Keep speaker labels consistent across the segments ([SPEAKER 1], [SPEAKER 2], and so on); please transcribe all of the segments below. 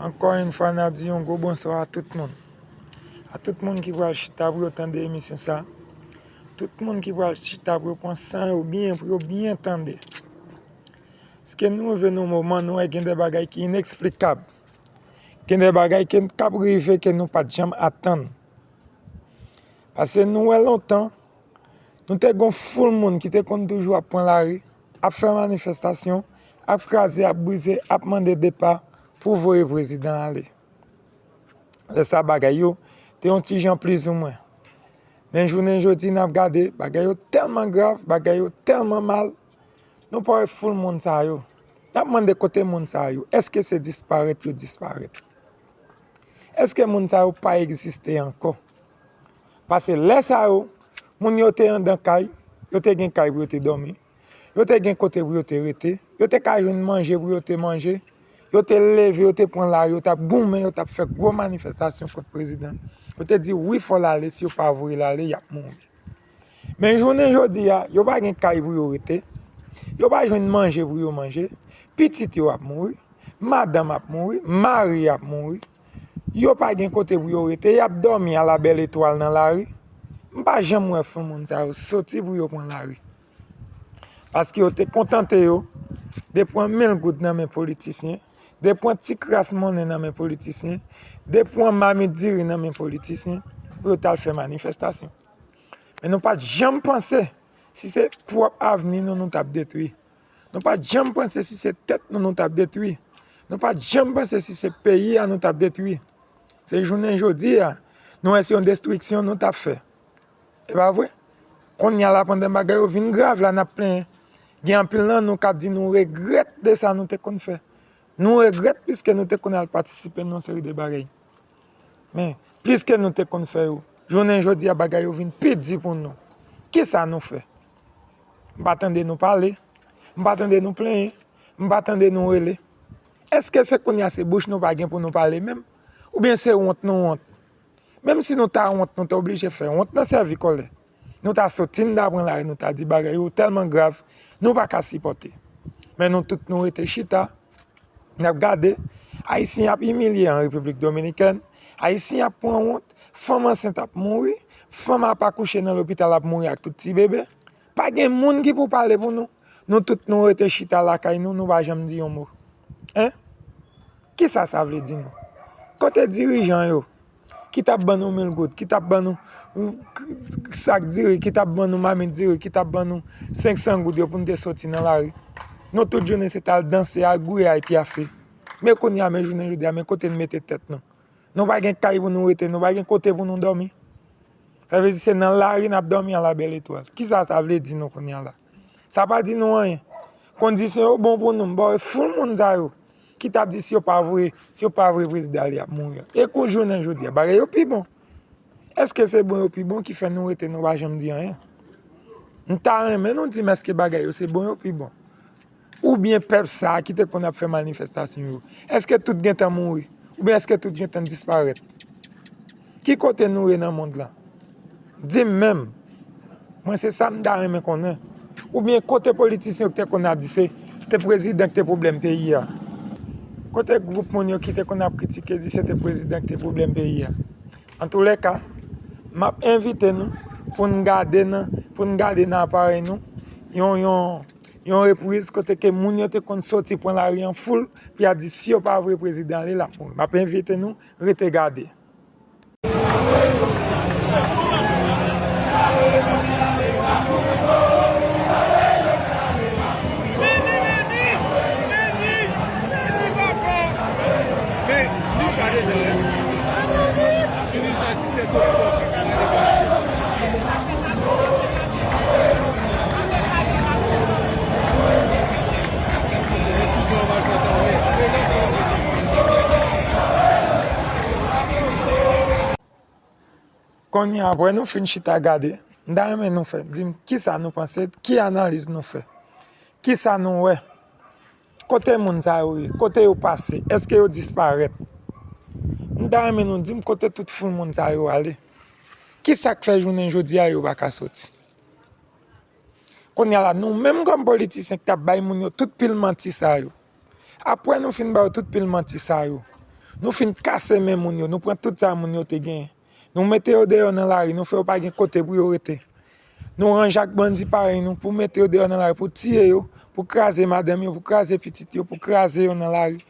[SPEAKER 1] Ankò yn fwa nap di yon gwo bonswa a tout moun A tout moun ki pral chita pou yo tande emisyon sa Tout moun ki pral chita pou yo pran san yo byen pou yo byen tande Ske nou rive nan yon moman nou wè gen de bagay ki ineksplikab Gen de bagay ki ap rive ke nou pat janm atann Pase nou wè lontan Nou te gon foul moun ki te konn toujou ap pran lari ap fè manifestasyon, ap kraze, ap brize, ap mande depa pou voye prezidan ale. Lè sa bagay yo te yon ti jan plizoumwen. Men jounen jodi nap gade bagay yo tèlman grav, bagay yo tèlman mal, nou pa wè foul moun sa yo. Nap mande kote moun sa yo, eske se disparèt yo disparèt? Eske moun sa yo pa egziste ankò? Pase lè sa yo, moun yo te andan kay, yo te gen kay pou yo te dòmi, yo te gen kote pou yo te rete, yo te ka jwenn manje pou yo te manje, yo te leve, yo te pran lari, yo t ap goumen, yo t ap fè gwo manifestasyon kont prezidan. Yo te di wi fò l ale, si yo pa voye l ale, y ap mouri. Men jounen jodi a, yo pa gen kay pou yo rete, yo pa jwenn manje pou yo manje, pitit yo ap mouri, madanm ap mouri, mari ap mouri. Yo pa gen kote pou yo rete, y ap dòmi ala bèl etwal nan lari. M pa janm wè fon moun sa yo soti pou yo pran lari. Paske yo te kontante yo de pran mil goud nan men politisyen, de pran ti kras monnen nan men politisyen, de pran mamit diri nan men politisyen pou yo t al fè manifestasyon. Men nou pa t janm panse si se pwòp avni nou nou t ap detwi. Nou pa t janm panse si se tèt nou nou t ap detwi. Nou pa t janm panse si se peyi a nou t ap detwi. Se jounen jodi a, nou wè se yon destriksyon nou t ap fè. E pa vre? Kounye a la pandan bagay yo vin grav la, n ap plenyen. Gen anpil nan nou k ap di nou regrèt de sa nou te konn fè. Nou regrèt piske nou te konn al patisipe nan yon seri de bagay. Men, piske nou te konn fè yo, jounen jodi a bagay yo vin pi di pou nou. Kisa nou fè? M pa tande nou pale, m pa tande nou plenyen, m pa tande nou rele. Èske se kounye a se bouch nou pa gen pou nou pale menm? Oubyen se wont nou wont? Menm si nou ta wont, nou ta oblije fè wont nan sèvi kòlè. Nou ta soti n da pran lari, nou ta di bagay yo tèlman grav, nou pa ka sipòte. Men nou tout nou rete chita. Nap gade, Ayisyen ap imilye an Repiblik Dominikèn, Ayisyen ap pran wont, fanm ansent ap mouri, fanm ap akouche nan lopital ap mouri ak tout ti bebe. Pa gen moun ki pou pale pou nou, nou tout nou rete chita lakay nou, nou pa janm di yon mo. Hein? Kisa sa vle di nou? Kote dirijan yo? ki t ap ban nou mil goud, ki t ap ban nou sak diri, ki t ap ban nou mamit diri, ki t ap ban nou 500 goud yo pou nou te soti nan lari. Nou tout jounen se te al danse, al gouye, al pyafe. Men kounye a, men jounen jodi a, men kote nou mete tèt nou. Nou pa gen kay pou nou rete, nou pa gen kote pou nou dòmi. Sa vle di se nan lari n ap dòmi a la bèl etwal. Ki sa sa vle di nou kounye a la? Sa pa di nou anyen. Kondisyon yo bon pou nou, m ba w e foul moun sa yo. ki tap di si yo pa voye, si yo pa voye prezidan li ap mouri. E kou jounen jodi a, bagay yo pi bon. Eske se bon yo pi bon ki fè nou rete nou pa janm di anyen? M ta renmen nou di m eske bagay yo se bon yo pi bon. Ou byen pèp sa ki te konn ap fè manifestasyon yo, eske tout gen tan mouri? Ou byen eske tout gen tan disparèt? Ki kote nou ye nan mond lan? Di m menm! Mwen se sa m ta renmen konnen. Oubyen kote politisyen yo ki te konn ap di se te prezidan ki te pwoblèm peyi a? Kote gwoup moun yo ki te konn ap kritike di se te prezidan ki te pwoblèm peyi a? Antoulèka, m ap envite nou pou n gade nan pou n gade nan aparèy nou yon yon yon repriz kote ke moun yo te konn soti pran lari an foul pou y ap di si yo pa vre prezidan an li la. M ap envite nou. Rete gade. Kounye a apre nou fin chita gade, m ta renmen nou fè, di m kisa nou panse, ki analiz nou fè, kisa nou wè. Kote moun sa yo ye? Kote yo pase? Eske yo disparèt? M ta renmen nou dim kote tout foul moun sa yo ale? Ki sak fè jounen jodi a yo pa ka soti? Kounya la nou menm kòm politisyen ki ta bay moun yo tout pil manti sa yo, apre nou fin ba yo tout pil manti sa yo, nou fin kase men moun yo, nou pran tout sa moun yo te genyen, Nou mete yo deyò nan lari, nou fè yo pa gen kote pou yo rete. Nou ranje ak bandi parèy nou pou mete yo deyò nan lari, pou tiye yo, pou kraze madanm yo, pou kraze pitit yo, pou kraze yo nan lari.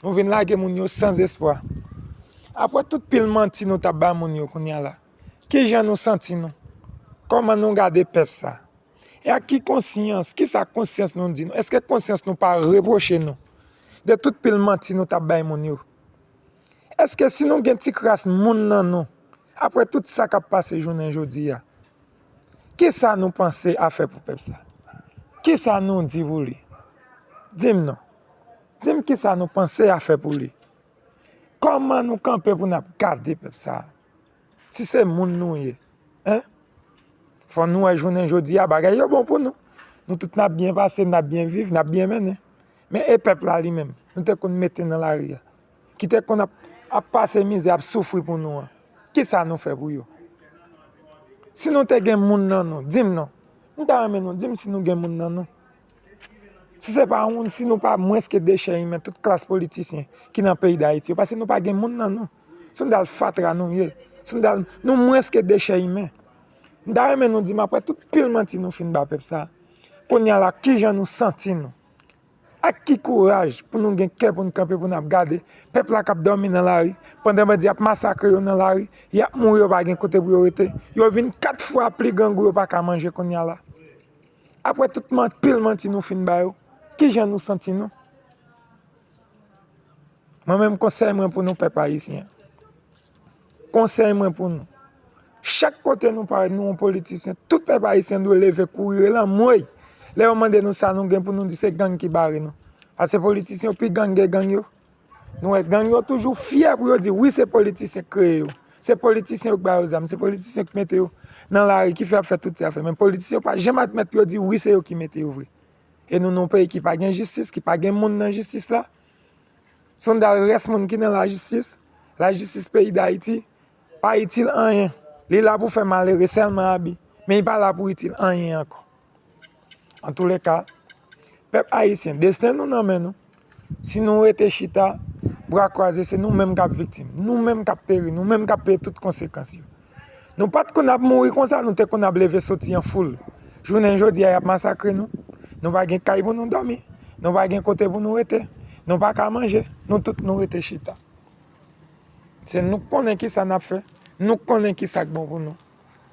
[SPEAKER 1] Nou vin lage moun yo san zespwa. Apre tout pil manti nou tap ba moun yo kounya la, ki jan nou santi nou? Kòman nou gade pèp sa? E ak ki konsyans, ki sa konsyans nou di nou? Eske konsyans nou pa repwoche nou de tout pil manti nou tap bay moun yo? Eske si nou gen ti kras moun nan nou, apre tout sa kap pase jounen jodi a, ki sa nou panse a fè pou pèp sa? Ki sa nou di pou li? Di m non. Di m ki sa nou panse a fè pou li? Kòman nou kanpe pou n ap gade pèp sa? Si se moun nou ye hein fò nou wè jounen jodi a bagay yo bon pou nou. Nou tout nap byen pase, nap byen viv, nap byen mennen. Men e pèp la li menm nou te konn mete nan lari a. Ki te konn ap pase mizè, ap soufri pou nou an. Ki sa nou fè pou yo? Si nou te gen moun nan nou, di m non. M ta renmen nou di m si nou gen moun nan nou. Si se pa moun, si nou pa mwens ke dechè imen tout klas politisyen ki nan peyi Dayiti yo. Pase nou pa gen moun nan nou. Sandal fatra nou ye. Sandal nou mwens ke dechè imen. M ta renmen nou di m apre tout pil manti nou fin ba pèp sa. Kounye a la kijan nou santi nou. Ak ki kouraj pou nou gen kè pou nou kanpe pou nou ap gade pèp la k ap dòmi nan lari pandan bandi ap masakre yo nan lari. Y ap mouri yo pa gen kote pou yo rete. Yo vin 4 fwa pli grangou yo pa ka manje kounye a la. Apre tout pil manti nou fin ba yo. Kijan nou santi nou. Mwen menm konsèy mwen pou nou pèp ayisyen. Konsèy mwen pou nou. Chak kote nou parèt nou yon politisyen. Tout pèp ayisyen dwe leve kouri rele anmwey. Lè yo mande nou sa nou gen pou nou di se gang ki bare nou. Pase politisyen yo pi gang ke gang yo. Nou wè gang yo toujou fyè pou yo di wi se politisyen ki kreye yo. Se politisyen yo ki ba yo zam. Se politisyen yo ki mete yo nan lari ki fè yo ap fè tout sa yo ap fè. Men politisyen yo pa janm admèt pou yo di wi se yo ki mete yo vre. E nou nan yon peyi ki pa gen jistis, ki pa gen moun nan jistis la. Sondal rès moun ki nan lajistis, lajistis peyi dayiti pa itil anyen, li la pou fè malere sèlman abi, men li pa la pou itil anyen ankò. Antoulèka, pèp ayisyen, desten nou nan men nou, si nou rete chita, bra kwaze, se nou menm kap viktim, nou menm kap peri, nou menm kap peye tout konsekans yo. Nou pa t konn ap mouri konsa, nou te konn ap leve soti an foul. Jounen jodi a, y ap masakre nou. Nou pa gen kay pou nou dòmi. Nou pa gen kote pou nou rete. Nou pa ka manje. Nou tout nou rete chita. Se nou k konnen ki sa n ap fè. Nou k konnen ki sa k bon pou nou.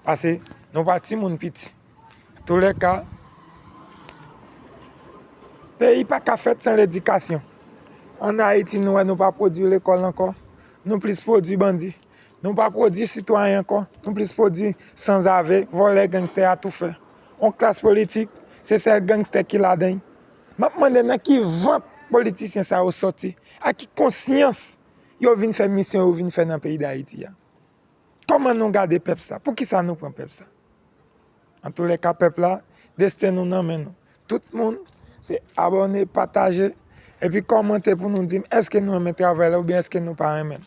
[SPEAKER 1] Pase nou pa timoun piti. Tou le ka, peyi pa ka fèt san ledikasyon. An Ayiti, nou wè nou pa pwodui lekòl ankò. Nou plis pwodui bandi. Nou pa pwodwi sitwayen ankò, nou plis pwodwi sanzave, vòlè, gangstè, atoufè. Yon klas politik, se sèl gangstè ki ladan l. M ap mande nan ki vant politisyen sa yo sòti, ak ki konsyans yo vin fè misyon yo vin fè nan peyi Dayiti a? Kòman nou gade pèp sa? Poukisa nou pran pèp sa? Antoulèka pèp la desten nou nan men nou tout moun se abòne pataje epi kòmante pou nou dim eske nou renmen travay la oubyen eske nou pa renmen l.